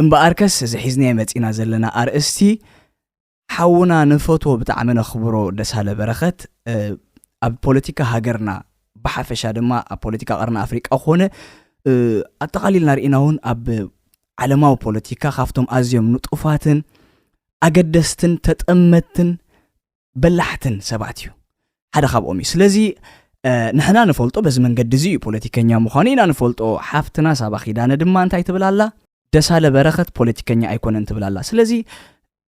እምበኣርከስ እዚ ሒዝናዮ መጺእና ዘለና ኣርእስቲ ሓውና ንፈትዎ ብጣዕሚ ነኽብሮ ደሳለ በረኸት ኣብ ፖለቲካ ሃገርና ብሓፈሻ ድማ ኣብ ፖለቲካ ቀርኒ ኣፍሪቃ ኮነ ኣጠቓሊልና ርኢና እውን ኣብ ዓለማዊ ፖለቲካ ካብቶም ኣዝዮም ንጡፋትን ኣገደስትን ተጠመትን በላሕትን ሰባት እዩ ሓደ ካብኦም እዩ ስለዚ ንሕና ንፈልጦ በዚ መንገዲ እዚ እዩ ፖለቲከኛ ምዃኑ ኢና ንፈልጦ ሓፍትና ሳባ ኪዳነ ድማ እንታይ ትብል ኣላ ደሳለ በረኸት ፖለቲከኛ ኣይኮነን ትብል ኣላ ስለዚ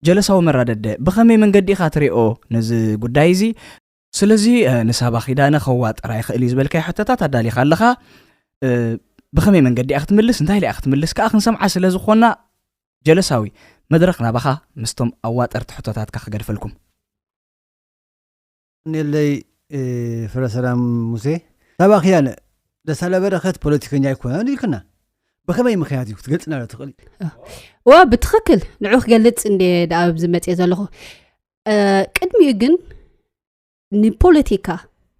ጀለሳዊ መራደደ ብኸመይ መንገዲ ኢኻ ትሪኦ ነዚ ጉዳይ እዚ ስለዚ ንሳባ ኪዳነ ከዋጥራ ይኽእል እዩ ዝበልካዮ ሕቶታት ኣዳሊኻ ኣለኻ ብኸመይ መንገዲ እያ ክትምልስ እንታይ ኢላ እያ ክትምልስ ከዓ ክንሰምዓ ስለ ዝኾና ጀለሳዊ መድረኽ ናባኻ ምስቶም ኣዋጠርቲ ሕቶታትካ ክገድፈልኩም። የቀንየለይ ፍረሰላም ሙሴ ሳባኺ ያለ ደሳለ በረከት ፖለቲከኛ ኣይኮነን ኢልክና ብከመይ ምክንያት እዩ ክትገልፅና ዶ ትኽእል ዋ ብትኽክል ንዑ ክገልፅ እንደ ዳኣ ኣብዚ መፅእ ዘለኹ ቅድሚኡ ግን ንፖለቲካ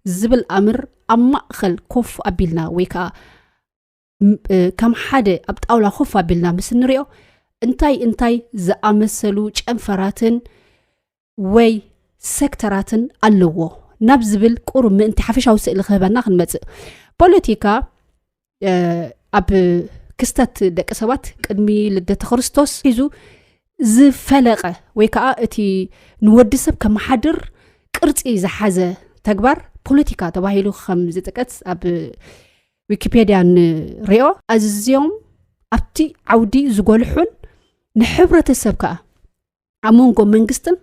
ዝብል ኣምር ኣብ ማእኸል ኮፍ ኣቢልና ወይ ከዓ ከም ሓደ ኣብ ጣውላ ኮፍ ኣቢልና ምስ እንሪኦ እንታይ እንታይ ዝኣመሰሉ ጨንፈራትን ወይ ሴክተራትን ኣለዎ ናብ ዝብል ቁሩብ ምእንቲ ሓፈሻዊ ስእሊ ክህበና ክንመፅእ ፖለቲካ ኣብ ክስተት ደቂ ሰባት ቅድሚ ልደተ ክርስቶስ ሒዙ ዝፈለቀ ወይ ከዓ እቲ ንወዲ ሰብ ከመሓድር ቅርፂ ዝሓዘ ተግባር ፖለቲካ ተባሂሉ ከም ዝጥቀስ ኣብ ዊኪፔድያ ንሪኦ ኣዝዮም ኣብቲ ዓውዲ ዝጎልሑን ንሕብረተሰብ ከዓ ኣብ መንጎ መንግስትን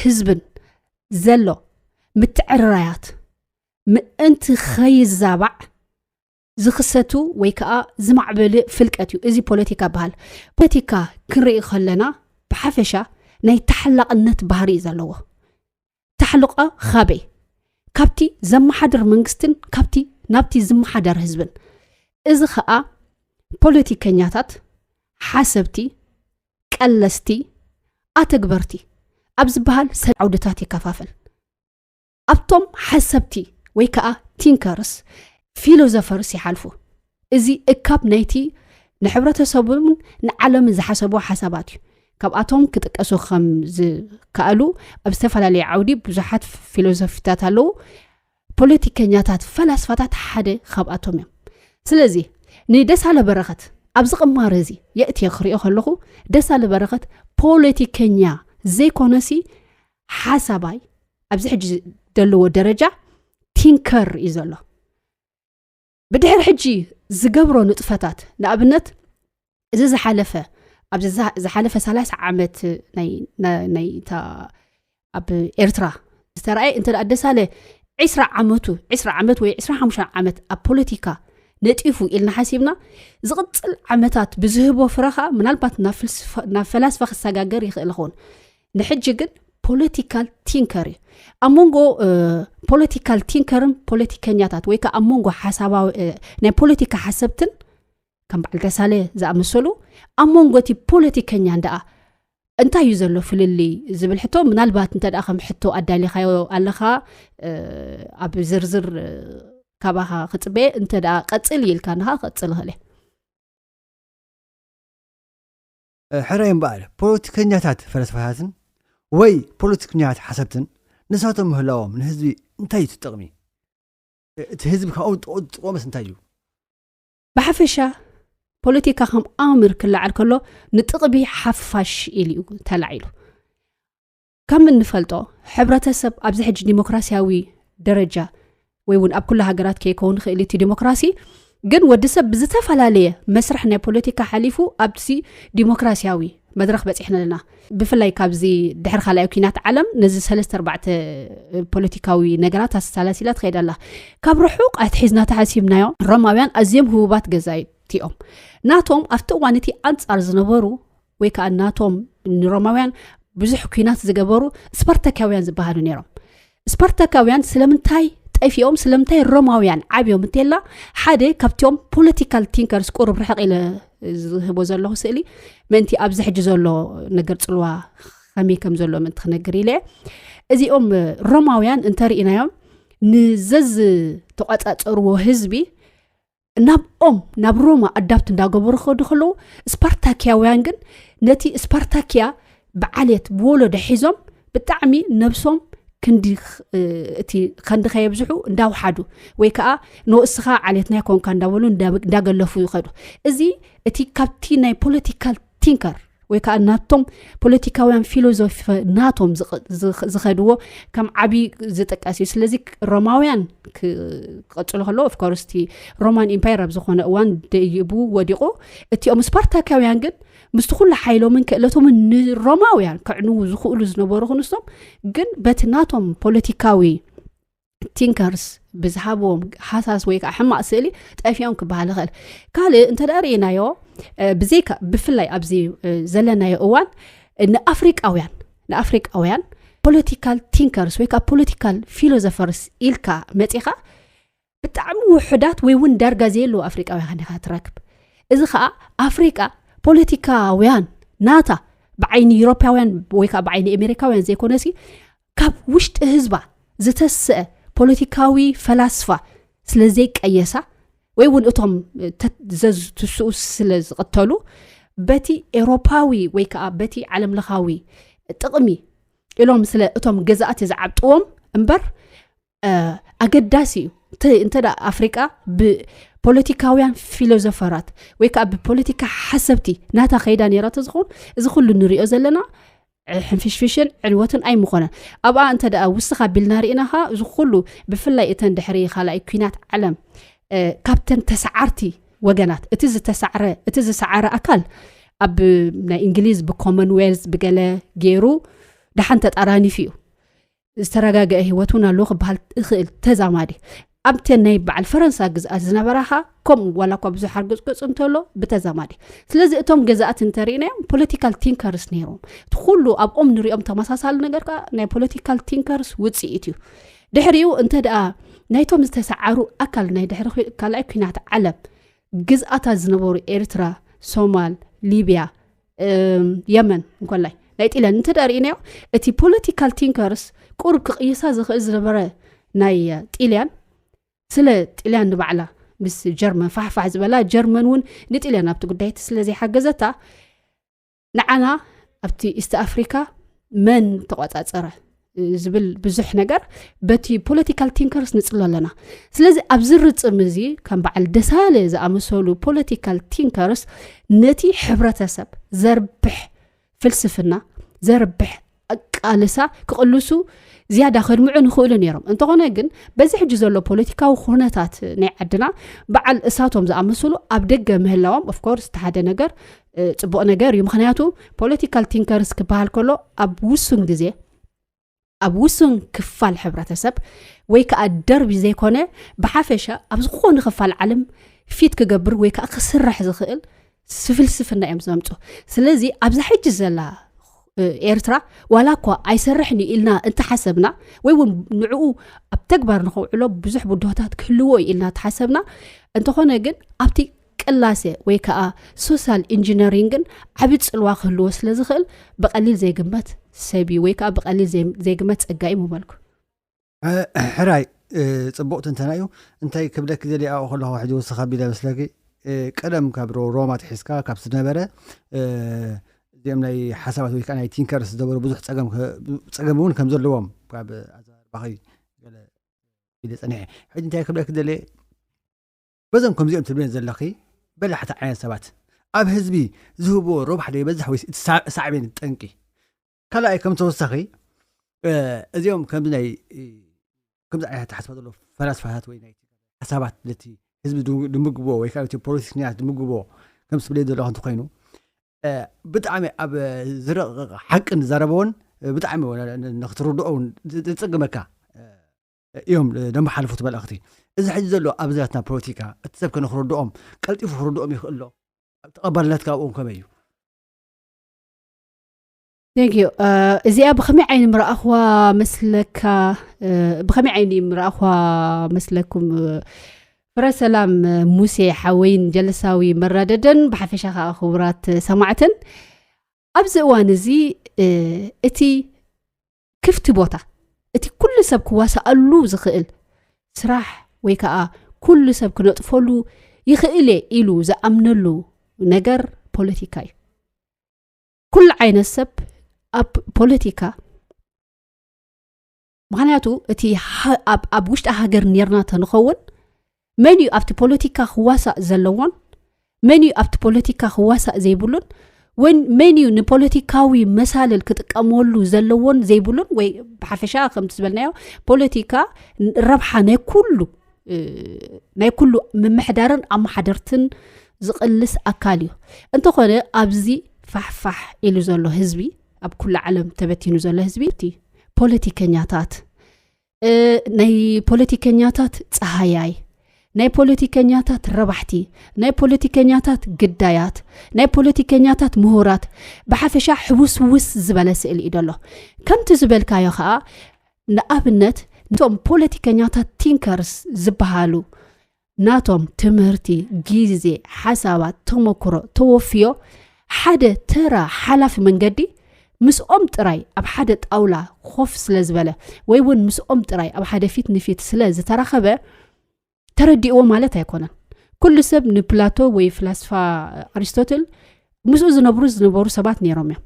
ህዝብን ዘሎ ምትዕርራያት ምእንቲ ከይዛባዕ ዝኽሰቱ ወይ ከዓ ዝማዕበል ፍልቀት እዩ እዚ ፖለቲካ በሃል ፖለቲካ ክንርኢ ከለና ብሓፈሻ ናይ ተሓላቕነት ባህሪ እዩ ዘለዎ ታሕልቐ ኻበይ? ካብቲ ዘመሓድር መንግስትን ካብቲ ናብቲ ዝመሓደር ህዝብን። እዚ ኸኣ ፖለቲከኛታት፣ ሓሰብቲ፣ ቀለስቲ፣ ኣተግበርቲ ኣብ ዝበሃል ሰለስተ ዓውድታት ይከፋፈል። ኣብቶም ሓሰብቲ ወይ ከኣ ቲንከርስ፣ ፊሎዘፈርስ ይሓልፉ። እዚ እካብ ናይቲ ንሕብረተሰቡን ንዓለምን ዝሓሰብዎ ሓሳባት እዩ ካብኣቶም ክጥቀሱ ከም ዝከኣሉ ኣብ ዝተፈላለየ ዓውዲ ብዙሓት ፊሎሶፊታት ኣለዉ ፖለቲከኛታት ፈላስፋታት ሓደ ካብኣቶም እዮም ስለዚ ንደሳለ በረኸት ኣብዚ ቅማረ እዚ የእትየ ክሪኦ ከለኹ ደሳለ በረኸት ፖለቲከኛ ዘይኮነሲ ሓሳባይ ኣብዚ ሕጂ ዘለዎ ደረጃ ቲንከር እዩ ዘሎ ብድሕሪ ሕጂ ዝገብሮ ንጥፈታት ንኣብነት እዚ ዝሓለፈ ኣብዚ ዝሓለፈ ሳላሳ ዓመት ናይ እታ ኣብ ኤርትራ ዝተረኣየ እንተ ደሳለ ዕስራ ዓመቱ ዕስራ ዓመት ወይ ዕስራ ሓሙሽ ዓመት ኣብ ፖለቲካ ነጢፉ ኢልና ሓሲብና ዝቕፅል ዓመታት ብዝህቦ ፍረ ከዓ ምናልባት ናብ ፈላስፋ ክሰጋገር ይኽእል ኸውን ንሕጂ ግን ፖለቲካል ቲንከር እዩ ኣብ መንጎ ፖለቲካል ቲንከርን ፖለቲከኛታት ወይ ከዓ ኣብ መንጎ ሓሳባዊ ናይ ፖለቲካ ሓሰብትን ከም በዓል ተሳለ ዝኣመሰሉ ኣብ መንጎ እቲ ፖለቲከኛን ደኣ እንታይ እዩ ዘሎ ፍልልይ ዝብል ሕቶ ምናልባት እንተ ከም ሕቶ ኣዳሊኻዮ ኣለኻ ኣብ ዝርዝር ካባኻ ክፅበየ እንተ ቀፅል ኢልካ ንኻ ክቅፅል ይኽእል እየ ሕራይ እምበኣር ፖለቲከኛታት ፈለስፋታትን ወይ ፖለቲክኛታት ሓሰብትን ንሳቶም ምህላዎም ንህዝቢ እንታይ እዩ ትጥቕሚ እቲ ህዝቢ ካብኦም ጥቕኡ ዝጥቆምስ እንታይ እዩ ብሓፈሻ ፖለቲካ ከም ኣምር ክለዓል ከሎ ንጥቕቢ ሓፋሽ ኢሉ እዩ ተላዒሉ ከም እንፈልጦ ሕብረተሰብ ኣብዚ ሕጂ ዲሞክራሲያዊ ደረጃ ወይ እውን ኣብ ኩሉ ሃገራት ከይከውን ክእል እቲ ዲሞክራሲ ግን ወዲ ሰብ ብዝተፈላለየ መስርሕ ናይ ፖለቲካ ሓሊፉ ኣብዚ ዲሞክራሲያዊ መድረክ በፂሕና ኣለና ብፍላይ ካብዚ ድሕሪ ካልኣይ ኩናት ዓለም ነዚ ሰለስተ ኣርባዕተ ፖለቲካዊ ነገራት ኣሰላሲላ ትኸይድ ኣላ ካብ ርሑቅ ኣትሒዝና ተሓሲብናዮ ሮማውያን ኣዝዮም ህቡባት ገዛይቲኦም ናቶም ኣብቲ እዋን እቲ ኣንፃር ዝነበሩ ወይ ከዓ ናቶም ንሮማውያን ብዙሕ ኩናት ዝገበሩ ስፓርታካውያን ዝበሃሉ ነይሮም ስፓርታካውያን ስለምንታይ ጠፊኦም ስለምንታይ ሮማውያን ዓብዮም እንተላ ሓደ ካብትኦም ፖለቲካል ቲንከርስ ቁሩብ ርሕቕ ኢለ ዝህቦ ዘለኹ ስእሊ ምእንቲ ኣብዚ ሕጂ ዘሎ ነገር ፅልዋ ከመይ ከም ዘሎ ምእንቲ ክነግር ኢለ እዚኦም ሮማውያን እንተርኢናዮም ንዘዝተቋፃፀርዎ ህዝቢ ናብኦም ናብ ሮማ ኣዳብት እንዳገበሩ ክኸዱ ከለዉ ስፓርታኪያውያን ግን ነቲ ስፓርታኪያ ብዓልት ብወሎዶ ሒዞም ብጣዕሚ ነብሶም ክንዲ እቲ ከንዲ ከየብዝሑ እንዳውሓዱ ወይ ከዓ ንወእስኻ ዓሌት ናይ ኮንካ እንዳበሉ እንዳገለፉ ይኸዱ እዚ እቲ ካብቲ ናይ ፖለቲካል ቲንከር ወይ ከዓ ናቶም ፖለቲካውያን ፊሎዞፊ ናቶም ዝኸድዎ ከም ዓብዪ ዝጥቀስ እዩ ስለዚ ሮማውያን ክቐፅሎ ከሎ ኦፍኮርስ እቲ ሮማን ኢምፓየር ኣብ ዝኾነ እዋን ደይቡ ወዲቑ እቲኦም ስፓርታካውያን ግን ምስቲ ኩሉ ሓይሎምን ክእለቶምን ንሮማውያን ከዕንዉ ዝኽእሉ ዝነበሩ ክንሶም ግን በቲ ናቶም ፖለቲካዊ ቲንከርስ ብዝሃብዎም ሃሳስ ወይ ከዓ ሕማቅ ስእሊ ጠፊኦም ክበሃል ይኽእል ካልእ እንተ ርእናዮ ብዘይካ ብፍላይ ኣብዚ ዘለናዮ እዋን ንኣፍሪቃውያን ንኣፍሪቃውያን ፖለቲካል ቲንከርስ ወይ ከዓ ፖለቲካል ፊሎዞፈርስ ኢልካ መፂኻ ብጣዕሚ ውሑዳት ወይ እውን ዳርጋ ዘየለዎ ኣፍሪቃውያን ኢኻ ትረክብ እዚ ከዓ ኣፍሪቃ ፖለቲካውያን ናታ ብዓይኒ ዩሮፓውያን ወይ ከዓ ብዓይኒ ኣሜሪካውያን ዘይኮነ ሲ ካብ ውሽጢ ህዝባ ዝተስአ ፖለቲካዊ ፈላስፋ ስለ ዘይቀየሳ ወይ እውን እቶም ዘዝትስኡ ስለ ዝቕተሉ በቲ ኤውሮፓዊ ወይ ከዓ በቲ ዓለም ለኻዊ ጥቕሚ ኢሎም ስለ እቶም ገዛእቲ ዝዓብጥዎም እምበር ኣገዳሲ እዩ እንተ ኣፍሪቃ ብፖለቲካውያን ፊሎዞፈራት ወይ ከዓ ብፖለቲካ ሓሰብቲ ናታ ከይዳ ነራ ተዝኸውን እዚ ኩሉ ንሪኦ ዘለና ሕንፍሽፍሽን ዕንወትን ኣይምኾነን ኣብኣ እንተ ውስኻ ቢልና ርኢና ከ እዚ ኩሉ ብፍላይ እተን ድሕሪ ካልኣይ ኩናት ዓለም ካብተን ተሰዓርቲ ወገናት እቲ ዝተሰዕረ እቲ ዝሰዓረ ኣካል ኣብ ናይ እንግሊዝ ብኮመንዌልዝ ብገለ ገይሩ ደሓን ተጣራኒፍ እዩ ዝተረጋገዐ ህይወት እውን ኣለዎ ክበሃል እኽእል ተዛማዲ ኣብተን ናይ በዓል ፈረንሳ ግዝኣት ዝነበራ ኸ ከምኡ ዋላ እኳ ብዙሕ ኣርግፅቅፅ እንተሎ ብተዛማዲ ስለዚ እቶም ገዛእት እንተርእናዮም ፖለቲካል ቲንከርስ ነይሮም እቲ ኩሉ ኣብኦም ንሪኦም ተመሳሳሊ ነገር ከዓ ናይ ፖለቲካል ቲንከርስ ውፅኢት እዩ ድሕሪኡ እንተ ደኣ ናይቶም ዝተሰዓሩ ኣካል ናይ ድሕሪ ካልኣይ ኩናት ዓለም ግዝኣታት ዝነበሩ ኤርትራ ሶማል ሊብያ የመን እንኮላይ ናይ ጢለን እንተ ርእናዮ እቲ ፖለቲካል ቲንከርስ ቁርብ ክቕይሳ ዝኽእል ዝነበረ ናይ ጢልያን ስለ ጢልያን ንባዕላ ምስ ጀርመን ፋሕፋሕ ዝበላ ጀርመን እውን ንጢልያን ኣብቲ ጉዳይቲ ስለዘይሓገዘታ ንዓና ኣብቲ ኢስት ኣፍሪካ መን ተቆፃፀረ ዝብል ብዙሕ ነገር በቲ ፖለቲካል ቲንከርስ ንፅሎ ኣለና ስለዚ ኣብዚ ርፅም እዚ ከም በዓል ደሳለ ዝኣመሰሉ ፖለቲካል ቲንከርስ ነቲ ሕብረተሰብ ዘርብሕ ፍልስፍና ዘርብሕ ኣቃልሳ ክቕልሱ ዝያዳ ከድምዑ ንኽእሉ ነይሮም እንተኾነ ግን በዚ ሕጂ ዘሎ ፖለቲካዊ ኩነታት ናይ ዓድና በዓል እሳቶም ዝኣመሰሉ ኣብ ደገ ምህላዎም ኦፍኮርስ እቲ ሓደ ነገር ፅቡቕ ነገር እዩ ምክንያቱ ፖለቲካል ቲንከርስ ክበሃል ከሎ ኣብ ውሱን ግዜ ኣብ ውሱን ክፋል ሕብረተሰብ ወይ ከዓ ደርቢ ዘይኮነ ብሓፈሻ ኣብ ዝኾነ ክፋል ዓለም ፊት ክገብር ወይ ከዓ ክስራሕ ዝኽእል ፍልስፍና እዮም ዘምፁ ስለዚ ኣብዛ ሕጂ ዘላ ኤርትራ ዋላ እኳ ኣይሰርሕን እዩ ኢልና እንተሓሰብና ወይ እውን ንዕኡ ኣብ ተግባር ንኸውዕሎ ብዙሕ ብድሆታት ክህልዎ እዩ ኢልና ተሓሰብና እንተኾነ ግን ኣብቲ ቅላሰ ወይ ከኣ ሶሳል ኢንጂነሪንግን ዓቢ ጽልዋ ክህልዎ ስለ ዝኽእል ብቐሊል ዘይግመት ሰብ እዩ ወይ ከኣ ብቐሊል ዘይግመት ጸጋ እዩ ምበልኩ። ሕራይ ጽቡቕ ትንተና እዩ እንታይ ክብለኪ ዘልየ ኣብኡ ከለኹ ሕጂ ወስኽ ኣቢለ መስለኪ ቀደም ካብ ሮማ ትሒዝካ ካብ ዝነበረ እዚኦም ናይ ሓሳባት ወይ ከዓ ናይ ቲንከርስ ዝነበሩ ብዙሕ ፀገም እውን ከም ዘለዎም ካብ ኣዘራርባኺ ገለ ኢለ ፀኒሐ ሕጂ እንታይ ክብለኪ ደልየ በዞም ከምዚኦም ትብልዮም ዘለኺ በላሕቲ ዓይነት ሰባት ኣብ ህዝቢ ዝህብዎ ረብሓ ዶ ይበዝሕ ወይስ እቲ ሳዕቤን ጠንቂ ካልኣይ ከም ተወሳኺ እዚኦም ከምዚ ናይ ከምዚ ዓይነት ተሓስባ ዘሎ ፈላስፋታት ወይ ናይ ሓሳባት ነቲ ህዝቢ ድምግቦ ወይ ከዓ እቲ ፖለቲከኛት ድምግቦ ከም ስብለይ ዘለኹ እንተኮይኑ ብጣዕሚ ኣብ ዝረቕቕ ሓቂ ንዛረበዎን ብጣዕሚ ንክትርድኦውን ዝፅግመካ እዮም ደንበ ሓለፉት መልእኽቲ እዚ ሕዚ ዘሎ ኣብዚ ናትና ፖለቲካ እቲ ሰብ ከነክረድኦም ቀልጢፉ ክርድኦም ይኽእል ዶ ተቐባልነት ካብኦም ከመይ እዩ ቴንክዩ እዚኣ ብኸመይ ዓይኒ ምረኣኽዋ መስለካ ብኸመይ ዓይኒ ምረኣኽዋ መስለኩም ፍረ ሰላም ሙሴ ሓወይን ጀለሳዊ መራደደን ብሓፈሻ ከዓ ክቡራት ሰማዕትን ኣብዚ እዋን እዚ እቲ ክፍቲ ቦታ እቲ ኩሉ ሰብ ክዋሳኣሉ ዝኽእል ስራሕ ወይ ከዓ ኩሉ ሰብ ክነጥፈሉ ይኽእል እየ ኢሉ ዝኣምነሉ ነገር ፖለቲካ እዩ ኩሉ ዓይነት ሰብ ኣብ ፖለቲካ ምክንያቱ እቲ ኣብ ውሽጢ ሃገር ነርና ተንኸውን መን እዩ ኣብቲ ፖለቲካ ክዋሳእ ዘለዎን መን እዩ ኣብቲ ፖለቲካ ክዋሳእ ዘይብሉን ወይ መን እዩ ንፖለቲካዊ መሳልል ክጥቀመሉ ዘለዎን ዘይብሉን ወይ ብሓፈሻ ከምቲ ዝበልናዮ ፖለቲካ ረብሓ ናይ ኩሉ ናይ ኩሉ ምምሕዳርን ኣመሓደርትን ዝቕልስ ኣካል እዩ እንተኾነ ኣብዚ ፋሕፋሕ ኢሉ ዘሎ ህዝቢ ኣብ ኩሉ ዓለም ተበቲኑ ዘሎ ህዝቢ እቲ ፖለቲከኛታት ናይ ፖለቲከኛታት ፀሃያይ ናይ ፖለቲከኛታት ረባሕቲ ናይ ፖለቲከኛታት ግዳያት ናይ ፖለቲከኛታት ምሁራት ብሓፈሻ ሕውስውስ ዝበለ ስእሊ እዩ ደሎ ከምቲ ዝበልካዮ ከዓ ንኣብነት እቶም ፖለቲከኛታት ቲንከርስ ዝበሃሉ ናቶም ትምህርቲ፣ ግዜ፣ ሓሳባት፣ ተመክሮ ተወፍዮ ሓደ ተራ ሓላፊ መንገዲ ምስኦም ጥራይ ኣብ ሓደ ጣውላ ኮፍ ስለ ዝበለ ወይ እውን ምስኦም ጥራይ ኣብ ሓደ ፊት ንፊት ስለ ዝተራኸበ ተረዲእዎ ማለት ኣይኮነን። ኩሉ ሰብ ንፕላቶ ወይ ፍላስፋ ኣሪስቶትል ምስኡ ዝነብሩ ዝነበሩ ሰባት ነይሮም እዮም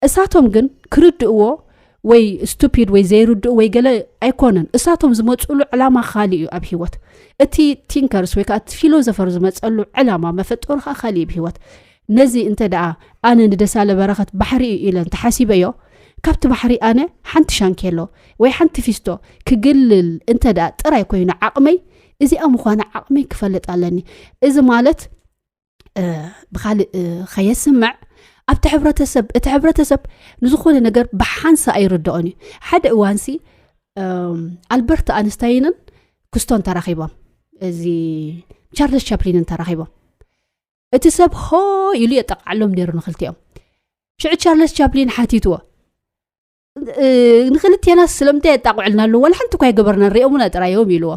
እሳቶም ግን ክርድእዎ ወይ ስቱፒድ ወይ ዘይርድኡ ወይ ገለ ኣይኮነን እሳቶም ዝመፅሉ ዕላማ ካሊእ እዩ ኣብ ሂወት እቲ ቲንከርስ ወይ ከዓ እቲ ፊሎዘፈር ዝመፀሉ ዕላማ መፈጠሩ ከዓ ካሊእ እዩ ብሂወት ነዚ እንተ ደኣ ኣነ ንደሳለ በረኸት ባሕሪ እዩ ኢለ እንተሓሲበዮ ካብቲ ባሕሪ ኣነ ሓንቲ ሻንኬሎ ወይ ሓንቲ ፊስቶ ክግልል እንተ ደኣ ጥራይ ኮይኑ ዓቕመይ እዚኣ ምዃነ ዓቕመይ ክፈልጥ ኣለኒ እዚ ማለት ብካልእ ከየስምዕ ኣብቲ ሕብረተሰብ እቲ ሕብረተሰብ ንዝኾነ ነገር ብሓንሳ ኣይርድኦን እዩ ሓደ እዋንሲ ኣልበርት ኣንስታይንን ክስቶን ተራኺቦም እዚ ቻርለስ ቻፕሊንን ተራኺቦም እቲ ሰብ ሆ ኢሉ የጠቃዓሎም ነይሩ ንክልቲኦም ሽዑ ቻርለስ ቻፕሊን ሓቲትዎ ንክልቴናስ ስለምንታይ የጣቕዕልና ኣለዉ ዋላ ሓንቲ እኳ ኣይገበርናን ሪኦምና ጥራይ እዮም ኢልዎ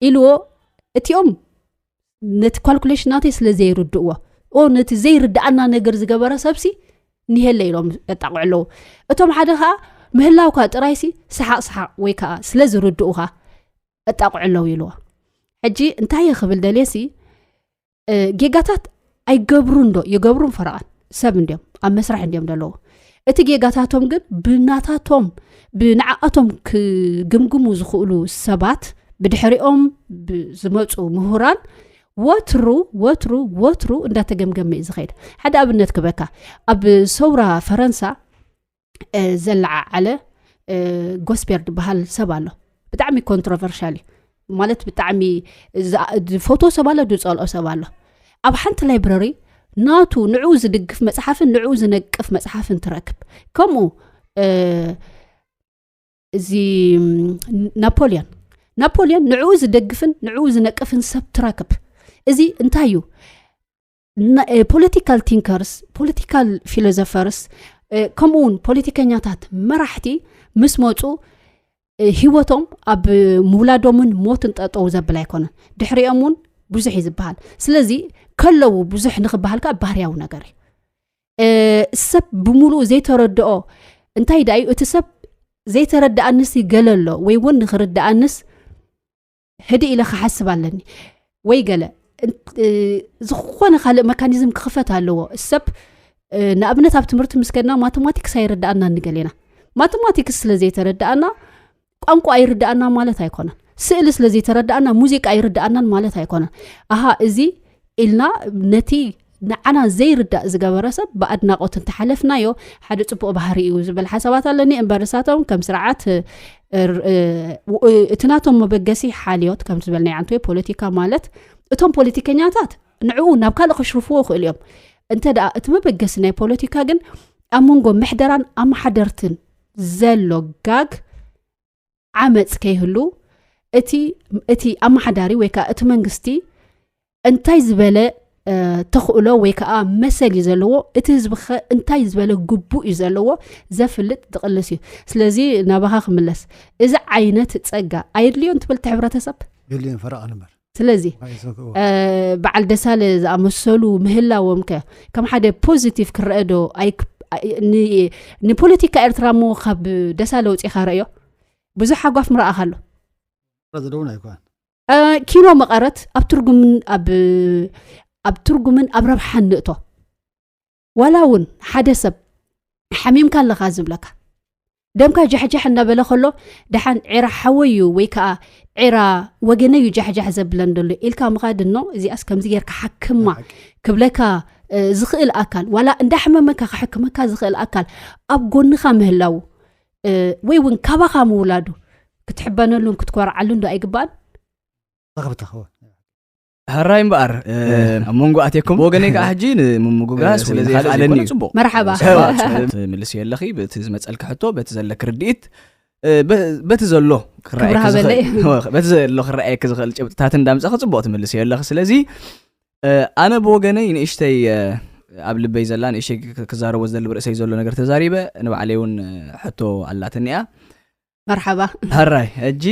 ኢልዎ እቲኦም ነቲ ኳልኩሌሽን ናተይ ስለ ዘይርድእዎ ኦ ነቲ ዘይርድኣና ነገር ዝገበረ ሰብሲ ንሄለ ኢሎም የጣቕዑ ኣለዉ እቶም ሓደ ከዓ ምህላውካ ጥራይሲ ሰሓቅ ሰሓቅ ወይ ከዓ ስለ ዝርድኡካ ኣጣቕዑ ኣለዉ ኢልዎ ሕጂ እንታይ እየ ክብል ደልየሲ ጌጋታት ኣይገብሩ እንዶ ይገብሩን ፈረቓን ሰብ እንዲዮም ኣብ መስራሕ እንዲዮም ዘለዎ እቲ ጌጋታቶም ግን ብናታቶም ብንዓኣቶም ክግምግሙ ዝኽእሉ ሰባት ብድሕሪኦም ዝመፁ ምሁራን ወትሩ ወትሩ ወትሩ እንዳተገምገመ እዩ ዝኸይድ ሓደ ኣብነት ክበካ ኣብ ሰውራ ፈረንሳ ዘለዓዓለ ጎስፔር ዝበሃል ሰብ ኣሎ ብጣዕሚ ኮንትሮቨርሻል እዩ ማለት ብጣዕሚ ዝፈት ሰብ ኣሎ ዝፀልኦ ሰብ ኣሎ ኣብ ሓንቲ ላይብረሪ ናቱ ንዕኡ ዝድግፍ መፅሓፍን ንዕኡ ዝነቅፍ መፅሓፍን ትረክብ ከምኡ እዚ ናፖልዮን ናፖልዮን ንዕኡ ዝደግፍን ንዕኡ ዝነቅፍን ሰብ ትረክብ እዚ እንታይ እዩ ፖለቲካል ቲንከርስ ፖለቲካል ፊሎዞፈርስ ከምኡ ውን ፖለቲከኛታት መራሕቲ ምስ መፁ ሂወቶም ኣብ ምውላዶምን ሞትን ጠጠው ዘብል ኣይኮነን ድሕሪኦም እውን ብዙሕ እዩ ዝበሃል ስለዚ ከለዉ ብዙሕ ንክበሃል ከዓ ባህርያዊ ነገር እዩ ሰብ ብምሉእ ዘይተረድኦ እንታይ ዳእዩ እቲ ሰብ ዘይተረዳኣንስ ይገለሎ ወይ እውን ንክርዳኣንስ ህድእ ኢለ ክሓስብ ኣለኒ ወይ ገለ ዝኾነ ካልእ መካኒዝም ክኽፈት ኣለዎ ሰብ ንኣብነት ኣብ ትምህርቲ ምስ ከድና ማቴማቲክስ ኣይርዳኣና ንገል ኢና ማቴማቲክስ ስለ ዘይተረዳኣና ቋንቋ ኣይርዳኣና ማለት ኣይኮነን ስእሊ ስለ ዘይተረዳኣና ሙዚቃ ኣይርዳኣናን ማለት ኣይኮነን ኣሃ እዚ ኢልና ነቲ ንዓና ዘይርዳእ ዝገበረ ሰብ ብኣድናቆት እንተሓለፍናዮ ሓደ ፅቡቅ ባህሪ እዩ ዝብል ሓሳባት ኣለኒ እምበር እሳቶም ከም ስርዓት እቲ ናቶም መበገሲ ሓልዮት ከም ዝበልናይ ኣንተ ፖለቲካ ማለት እቶም ፖለቲከኛታት ንዕኡ ናብ ካልእ ከሽርፍዎ ይኽእሉ እዮም እንተ ደኣ እቲ መበገሲ ናይ ፖለቲካ ግን ኣብ መንጎ ምሕደራን ኣመሓደርትን ዘሎ ጋግ ዓመፅ ከይህሉ እቲ እቲ ኣመሓዳሪ ወይ ከዓ እቲ መንግስቲ እንታይ ዝበለ ተኽእሎ ወይ ከዓ መሰል እዩ ዘለዎ እቲ ህዝቢ ከ እንታይ ዝበለ ግቡእ እዩ ዘለዎ ዘፍልጥ ዝቕልስ እዩ ስለዚ ናባኻ ክምለስ እዚ ዓይነት ፀጋ ኣየድልዮን ትብል እቲ ሕብረተሰብ የድልዮን ፈረቓ ንበር ስለዚ በዓል ደሳለ ዝኣመሰሉ ምህላዎም ከ ከም ሓደ ፖዚቲቭ ክረአ ዶ ንፖለቲካ ኤርትራ ሞ ካብ ደሳለ ውፅኢካ ረእዮ ብዙሕ ሓጓፍ ምረኣኻ ኣሎ ኪኖ መቐረት ኣብ ትርጉምን ኣብ ረብሓን ንእቶ ዋላ እውን ሓደ ሰብ ሓሚምካ ኣለካ ዝብለካ ደምካ ጃሕጃሕ እናበለ ከሎ ደሓን ዒራ ሓወይ እዩ ወይ ከዓ ዒራ ወገነ እዩ ጃሕጃሕ ዘብለን ደሎ ኢልካ ምኻድ እኖ እዚኣስ ከምዚ ጌርካ ሓክማ ክብለካ ዝኽእል ኣካል ዋላ እንዳሕመመካ ክሕክመካ ዝኽእል ኣካል ኣብ ጎንኻ ምህላው ወይ እውን ካባኻ ምውላዱ ክትሕበነሉን ክትኮርዓሉን ዶ ኣይግባእን ሃራይ እምበኣር ኣብ መንጎ ኣትየኩም ብወገነይ ከዓ ሕጂ ንምምጉጋዝ ስለዘይካለኒ እዩ ፅቡቅ መርሓባ ምልስ የለኺ በቲ ዝመፀልኪ ሕቶ በቲ ዘለኪ ርድኢት በቲ ዘሎ በቲ ዘሎ ክረኣየኪ ዝኽእል ጭብጥታት እንዳምፀኺ ፅቡቅ ትምልስ የለኺ ስለዚ ኣነ ብወገነይ ንእሽተይ ኣብ ልበይ ዘላ ንእሽተይ ክዛረቦ ዝደሊ ብርእሰይ ዘሎ ነገር ተዛሪበ ንባዕለይ እውን ሕቶ ኣላትኒ እያ መርሓባ ሃራይ ሕጂ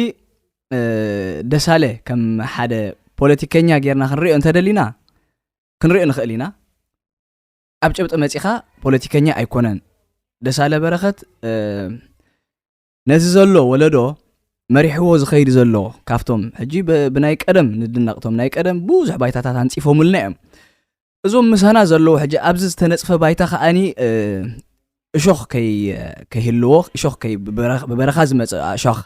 ደሳለ ከም ሓደ ፖለቲከኛ ጌርና ክንሪኦ እንተደሊና ክንሪኦ ንኽእል ኢና ኣብ ጭብጢ መፂኻ ፖለቲከኛ ኣይኮነን ደሳለ በረኸት ነዚ ዘሎ ወለዶ መሪሕዎ ዝኸይድ ዘሎ ካብቶም ሕጂ ብናይ ቀደም ንድነቕቶም ናይ ቀደም ብዙሕ ባይታታት ኣንፂፎምልና እዮም እዞም ምሳና ዘለዉ ሕጂ ኣብዚ ዝተነፅፈ ባይታ ከዓኒ እሾኽ ከይህልዎ እሾኽ ብበረኻ ዝመፀ እሾኽ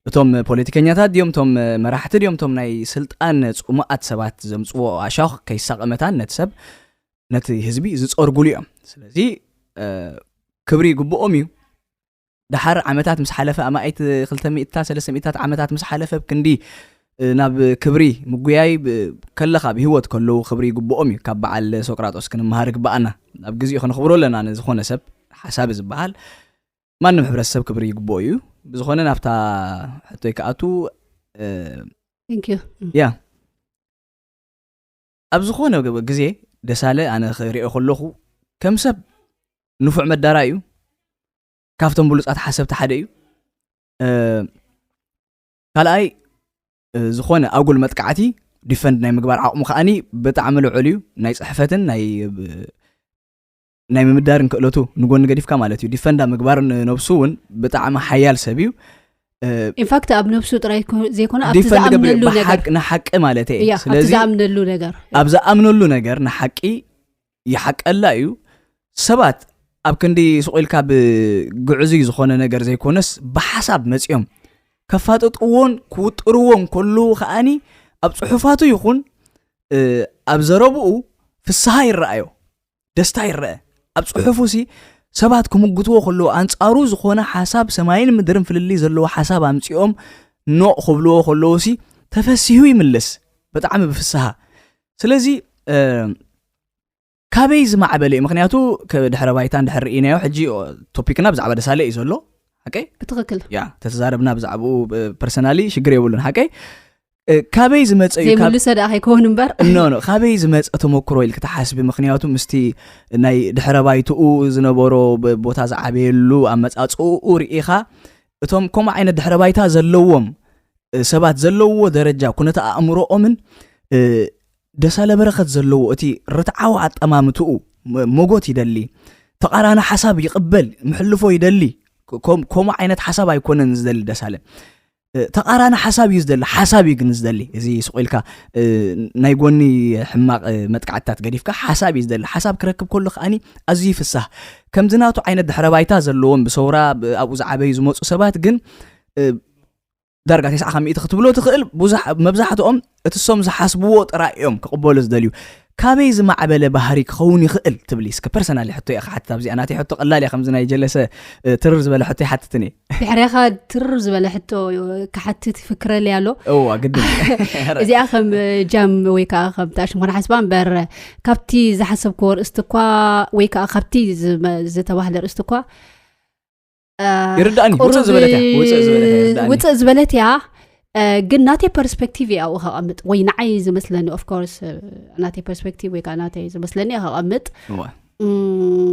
እቶም ፖለቲከኛታት ድዮም እቶም መራሕቲ ድዮም እቶም ናይ ስልጣን ፅሙኣት ሰባት ዘምፅዎ ኣሻኽ ከይሳቐ መታን ነቲ ሰብ ነቲ ህዝቢ ዝፀርጉሉ እዮም ስለዚ ክብሪ ይግብኦም እዩ ደሓር ዓመታት ምስ ሓለፈ ኣማኢት ክልተ ሚእትታት ሰለስተ ሚእትታት ዓመታት ምስ ሓለፈ ክንዲ ናብ ክብሪ ምጉያይ ከለካ ብሂወት ከለዉ ክብሪ ይግብኦም እዩ ካብ በዓል ሶቅራጦስ ክንመሃር ይግበኣና ኣብ ግዜኡ ከነኽብሮ ኣለና ንዝኾነ ሰብ ሓሳቢ ዝበሃል ማንም ሕብረተሰብ ክብሪ ይግብኦ እዩ ብዝኾነ ናብታ ሕቶይ ክኣቱ ያ ኣብ ዝኾነ ግዜ ደሳለ ኣነ ክሪኦ ከለኹ ከም ሰብ ንፉዕ መዳራይ እዩ ካብቶም ብሉጻት ሓሰብቲ ሓደ እዩ ካልኣይ ዝኾነ ኣጉል መጥቃዕቲ ዲፈንድ ናይ ምግባር ዓቕሙ ከዓኒ ብጣዕሚ ልዑል እዩ ናይ ፅሕፈትን ናይ ናይ ምምዳርን ክእለቱ ንጎኒ ገዲፍካ ማለት እዩ ዲፈንዳ ምግባር ነብሱ እውን ብጣዕሚ ሓያል ሰብ እዩ ኢንፋክት ኣብ ነብሱ ጥራይ ዘይኮነ ኣብቲ ዝኣምነሉ ነገር ንሓቂ ማለት እየ ስለዚ ዝኣምነሉ ነገር ኣብ ዝኣምነሉ ነገር ንሓቂ ይሓቀላ እዩ ሰባት ኣብ ክንዲ ስቑኢልካ ብግዕዙ ዝኾነ ነገር ዘይኮነስ ብሓሳብ መፂኦም ከፋጥጥዎን ክውጥርዎን ከለዉ ከዓኒ ኣብ ፅሑፋቱ ይኹን ኣብ ዘረብኡ ፍስሃ ይረኣዮ ደስታ ይረአ ኣብ ጽሑፉሲ ሰባት ክምጉትዎ ከለዎ ኣንጻሩ ዝኾነ ሓሳብ ሰማይን ምድርን ፍልልይ ዘለዎ ሓሳብ ኣምጺኦም ኖቕ ክብልዎ ከለዎ ሲ ተፈሲሁ ይምልስ ብጣዕሚ ብፍስሃ ስለዚ ካበይ ዝማዕበለ እዩ ምክንያቱ ድሕረ ባይታን ድሕር ርኢናዮ ሕጂ ቶፒክና ብዛዕባ ደሳለ እዩ ዘሎ ሓቀይ ብትክክል ያ ተተዛረብና ብዛዕባኡ ፐርሰናሊ ሽግር የብሉን ሓቀይ ካበይ ዝመፀ እዩ ዘይምልሰ ደኣ ከይከውን እምበር ኖ ኖ ካበይ ዝመፀ ተመክሮ ኢል ክትሓስቢ ምክንያቱ ምስቲ ናይ ድሕረ ባይትኡ ዝነበሮ ቦታ ዝዓበየሉ ኣመፃፅኡ ርኢኻ እቶም ከምኡ ዓይነት ድሕረ ባይታ ዘለዎም ሰባት ዘለዎ ደረጃ ኩነተ ኣእምሮኦምን ደሳለ በረኸት ዘለዎ እቲ ርትዓዊ ኣጠማምትኡ ሞጎት ይደሊ ተቃራኒ ሓሳብ ይቕበል ምሕልፎ ይደሊ ከምኡ ዓይነት ሓሳብ ኣይኮነን ዝደሊ ደሳለ ተቃራኒ ሓሳብ እዩ ዝደሊ ሓሳብ እዩ ግን ዝደሊ እዚ ስቁ ኢልካ ናይ ጎኒ ሕማቅ መጥቃዕትታት ገዲፍካ ሓሳብ እዩ ዝደሊ ሓሳብ ክረክብ ከሎ ከዓኒ ኣዝዩ ይፍሳህ ከምዚ ናቱ ዓይነት ድሕረ ባይታ ዘለዎም ብሰውራ ኣብኡ ዝዓበዩ ዝመፁ ሰባት ግን ዳርጋ ተስዓ ካብ ሚእቲ ክትብሎ ትኽእል መብዛሕትኦም እቲ እሶም ዝሓስብዎ ጥራይ እዮም ክቕበሉ ዝደልዩ። ካበይ ዝማዕበለ ባህሪ ክኸውን ይኽእል ትብሊ? እስከ ፐርሰናሊ ሕቶ እየ ክሓትት ኣብዚኣ ናተይ ሕቶ ቀላል እያ ከምዚ ናይ ጀለሰ ትርር ዝበለ ሕቶ ይሓትትን እየ። ድሕሬኻ ትርር ዝበለ ሕቶ ክሓትት ይፍክረል እያ ኣሎ እዋ ግድ እዚኣ ከም ጃም ወይ ከዓ ከም ተኣሽም ኮነ ሓስባ እምበር ካብቲ ዝሓሰብክዎ ርእስቲ እኳ ወይ ከዓ ካብቲ ዝተባህለ ርእስቲ እኳ ይርዳእኒ ውፅእ ዝበለት እያ ውፅእ ዝበለት እያ ይርዳእኒ። ውፅእ ዝበለት እያ እ፣ ግን ናተይ ፐርስፔክቲቭ እያ ኣብኡ ከቐምጥ ወይ ንዓይ ዝመስለኒ ኦፍኮርስ ናተይ ፐርስፔክቲቭ ወይ ከዓ ናተይ ዝመስለኒ እያ ከቐምጥ እወ። እም፣